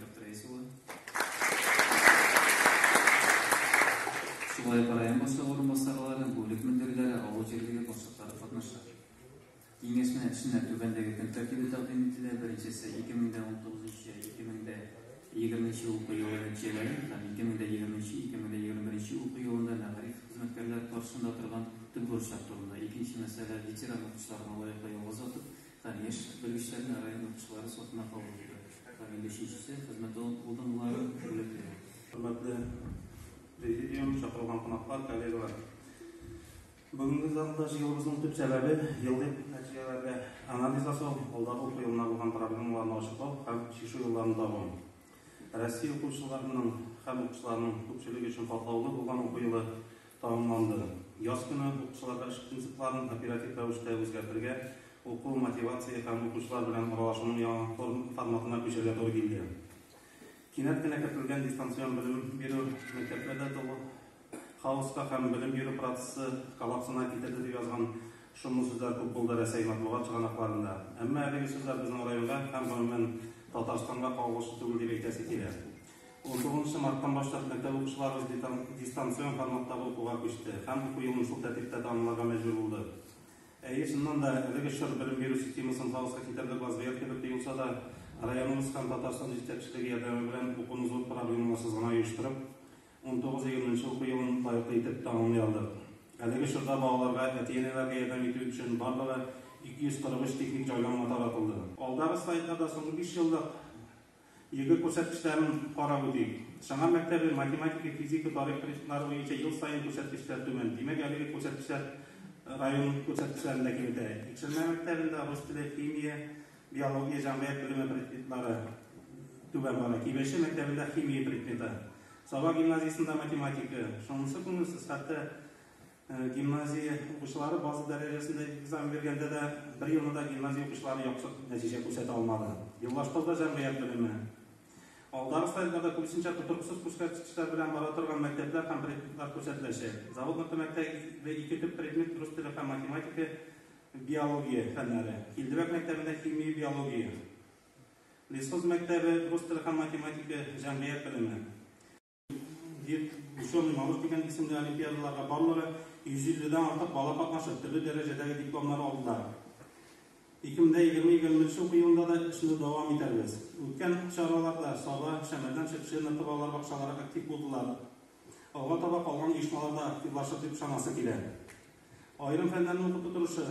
Доктор Исула. Шулай район башлыгы урынбасарлары, бүлек мөдирләре, авыл җирлеге башлыклары катнаша. Киңәшмә эшенә түбәндәге көн тәртибе тәкъдим ителә. Беренчесе 2019-2020 уку елы нәтиҗәләре һәм 2023-2021 уку елында мәгариф хезмәткәрләре каршында торган төп бурычлар турында. Икенче мәсьәлә ветеран укучыларга лаеклы ялгыз атып Тормыш белгечләренә район укытучылары сафына кабул итү һәм инде өченчесе хезмәт урыннары бүләкләнә. Хөрмәтле Президиум, чакырылган кунаклар, коллегалар! Бүгенге залда җыелуыбызның төп сәбәбе, еллык нәтиҗәләргә анализ ясау, алдагы уку елына булган проблемаларны ачыклау һәм чишү юлларын табу. Россия укучыларының һәм укытучыларының күпчелеге өчен катлаулы булган уку елы Тәмамланды. Яз көне укучыларга эш принципларын оператив рәвештә үзгәртергә, уку, мотивация һәм укучылар белән аралашуның яңа форматына күчәргә туры килде. Кинәт кенә кертелгән дистанцион белем бирү мәктәпләрдә тулы хаоска һәм белем бирү процессы коллапсына китерде, дип язган шомлы сүзләр күп булды Рәсәй матбугат чыганакларында. Әмма әлеге сүзләр безнең районга һәм, гомумән, Татарстанга кагылышлы түгел дип әйтәсе килә. Унтугызынчы марттан башлап мәктәп укучыларыбыз дистанцион форматтагы укуга күчте һәм уку елын шул тәртиптә тәмамларга мәҗбүр булды. Әйе, чыннан да, әлеге чор белем бирү системасын хаоска китерде Базгыять кебек тоелса да, районыбыз һәм Татарстан җитәкчелеге ярдәме белән укуны зур проблемаларсыз гына оештырып, унтугыз-егерменче уку елын лаеклы итеп тәмамлый алдык. Әлеге чорда балаларга, әти-әниләргә ярдәм итү өчен барлыгы 243 техник җайланма таратылды. Алдагы слайдларда соңгы биш еллык Елгы күрсәткечләрен карап үтик. Чаңар мәктәбе математика, физика, тарих предметлары буенча ел саен күрсәткечләр түбән. Димәк, әлеге күрсәткечләр район күрсәткечләрен дә киметә. Икшермә мәктәбендә рус теле, химия, биология, җәмгыять белеме предметлары түбән бара. Кибәче мәктәбендә химия предметы. Саба гимназиясендә математика. Шунысы күңелсез, хәтта Гимназия укучылары база дәрәҗәсендә экзамен биргәндә дә бер елны да гимназия укучылары яхшы нәтиҗә күрсәтә алмады. Еллашкалда җәмгыять белеме. Алдагы слайдларда күбесенчә тотрыксыз күрсәткечләр белән бара торган мәктәпләр һәм предметлар күрсәтеләчәк. Завод мәктәбендә ике төп предмет рус теле һәм математика, биология фәннәре. Килдебәк мәктәбендә химия, биология. Лесхоз мәктәбе рус теле һәм математика, җәмгыять белеме. Вет, Ученый малыш дигән исемле олимпиадаларга барлыгы 150-дән артык бала катнашып, төрле дәрәҗәдәге дипломнар алдылар. 2020-2021 уку елында да эшне дәвам итәрбез. Үткән чараларда Саба, Шәмәрдән Шепшина балалар бакчалары актив булдылар. Алга таба калган оешмалар да активлашыр дип ышанасы килә. Аерым фәннәрне укыту торышы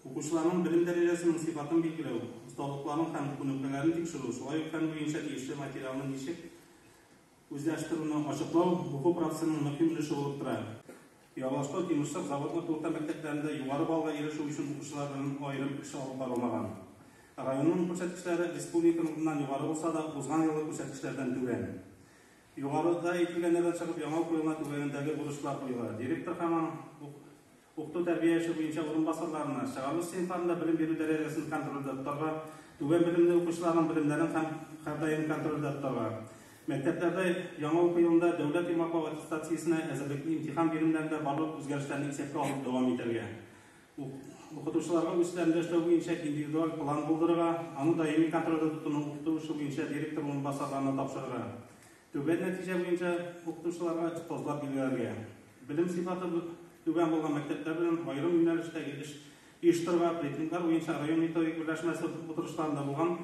Укучыларның белем дәрәҗәсенең сыйфатын билгеләү, осталыкларын һәм күнекмәләрен тикшерү, шулай ук фән буенча тиешле материалны ничек үзләштерүне ачыклау уку процессының мөһим өлеше булып тора. Ялаштау, Тимерсык, Заводлык урта мәктәпләрендә югары баллга ирешү өчен укучылар белән аерым эш алып барылмаган. Районның күрсәткечләре республиканыкыннан югары булса да, узган елгы күрсәткечләрдән түбән. Югарыда әйтелгәннәрдән чыгып, яңа уку елына түбәндәге бурычлар куела, директор һәм аның Укыту тәрбияче буенча урынбасарларына, чыгарылыш сыйныфларында белем бирү дәрәҗәсен контрольдә тотарга, түбән белемле укучыларның белемнәрен һәм һәрдаим контрольдә тотарга, мәктәпләрдә яңа уку елында дәүләт йомгаклау аттестациясенә әзерлекне имтихан биремнәрендә барлык үзгәрешләрне исәпкә алып дәвам итәргә, укытучыларга үзләрендә эшләү буенча индивидуаль план булдырырга, аны даими контрольдә тотуны укыту эше буенча директор урынбасарларына тапшырырга, Түбән нәтиҗә буенча укытучыларга остазлар билгеләргә, белем сыйфаты түбән булган мәктәпләр белән аерым юнәлештәге эш оештыруга, рейтинглар буенча район методик берләшмәсе утырышларында булган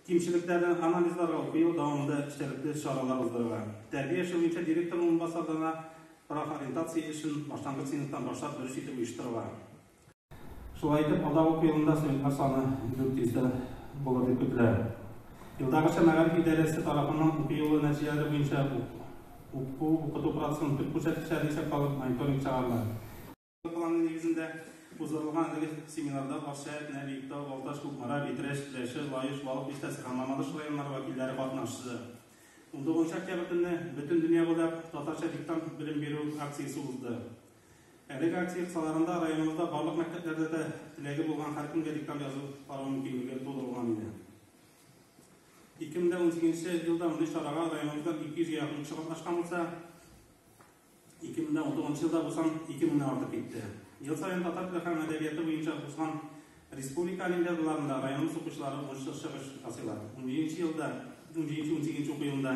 кимчелекләрне анализларга уку ел дәвамында эчтәлекле чаралар уздырырга, тәрбия эше буенча директор урынбасарларына профориентация эшен башлангыч сыйныфтан башлап дөрес итеп оештырырга. Шулай итеп, алда уку елында студентлар саны 400 дә булыр дип көтелә. Елдагыча мәгариф идарәсе тарафыннан уку елы нәтиҗәләре буенча уку укыту процесының төп күрсәткечләрен исәпкә алып мониторинг чыгарыла. Планы нигезендә уздырылган әлеге семинарда Акчаят, Нәби, Биектау, Балтач, Кукмара, Битрәч, Теләче, Лаеш, Балык Биштәсе һәм Мамадыш районнары вәкилләре катнашты. 19 октябрь көнне бөтен дөнья буйлап татарча диктант белем бирү акциясе узды. Әлеге акция кысаларында районыбызда барлык мәктәпләрдә дә теләге булган һәркемгә диктант язу карау мөмкинлеге тудырылган иде. 2018 елда мондый чарага районыбызда 200 якын кеше катнашкан булса, 2019 елда бу сан 2000 артып китте. Ел саен татар теле һәм әдәбияты буенча узган республика олимпиадаларында районыбыз укучылары уңышлы чыгыш ясыйлар. 17 елда, 17-18 уку елында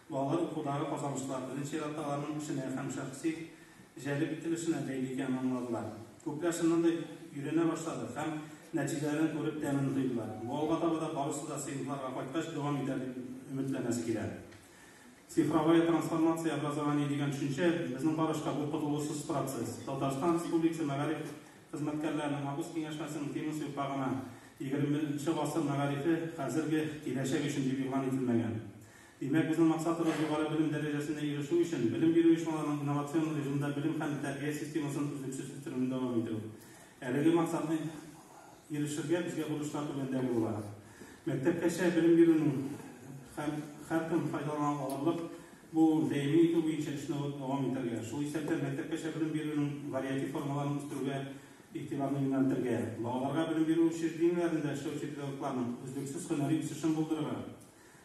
Балалар укудагы казанышлар, беренче чиратта, аларның эшенә һәм шәхси җәлеп ителешенә бәйле икәнен аңладылар. Күпләр чыннан да өйрәнә башлады һәм нәтиҗәләрен күреп тәмен тойдылар. Бу алга таба да барысы да сыйныфларга кайткач дәвам итәр дип өметләнәсе килә. Цифровая трансформация образования дигән төшенчә, безнең карашка, бу котылгысыз процесс. Татарстан Республикасы мәгариф хезмәткәрләренең август киңәшмәсенең темасы юкка гына Егерменче гасыр мәгарифе, хәзерге киләчәк өчен дип игълан ителмәгән. Димәк, безнең максатыбыз югары белем дәрәҗәсенә ирешү өчен, белем бирү оешмаларының инновацион режимда белем һәм тәрбия системасын өзлексез үстерүне дәвам итү. Әлеге максатны ирешергә безгә бурычлар түбәндәге була. Мәктәпкәчә белем бирүнең һәм һәркем файдалана алырлык булуын тәэмин итү буенча эшне дәвам итәргә, шул исәптән мәктәпкәчә белем бирүнең вариатив формаларын үстерүгә игътибарны юнәлтергә, балаларга белем бирү учреждениеләрендә эшләүче педагогларның өзлексез һөнәри үсешен булдырырга,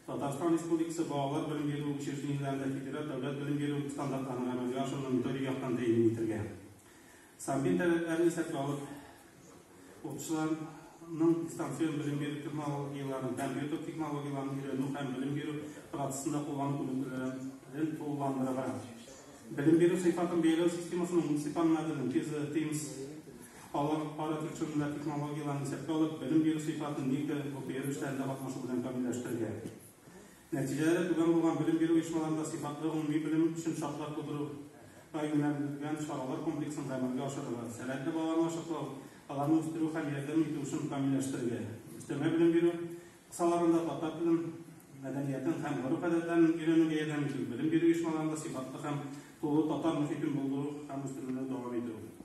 Татарстан Республикасы балалар белем бирү учреждениеләрендә федераль дәүләт белем бирү стандартларын гамәлгә ашыруны төрле яктан тәэмин итәргә, санбир таләпләрен исәпкә алып, укытучыларның дистанцион белем бирү технологияләрен, компьютер технологияләрен өйрәнү һәм белем бирү процессында куллану күнекмәләрен тулыландырырга, белем бирү сыйфатын бәяләү системасының муниципаль моделен, КИЗО, ТИМСС, Алар ара тик чүрүләр технологияләрен исәпкә алып, белем бирү сыйфатын ник тә ОПР эшләрендә катнашу белән камилләштерергә. Нәтиҗәләре түбән булган белем бирү оешмаларында сыйфатлы гомуми белем өчен шартлар тудыру га юнәлдерелгән чаралар комплексын гамәлгә ашырырга, сәләтле балаларны ачыклау, аларны үстерү һәм ярдәм итү эшен камилләштерергә, өстәмә белем бирү кысаларында татар телен, мәдәниятен һәм гореф-гадәтләрен өйрәнүгә ярдәм итү, белем бирү оешмаларында сыйфатлы һәм тулы татар мохитен булдыру һәм үстерүне дәвам итү.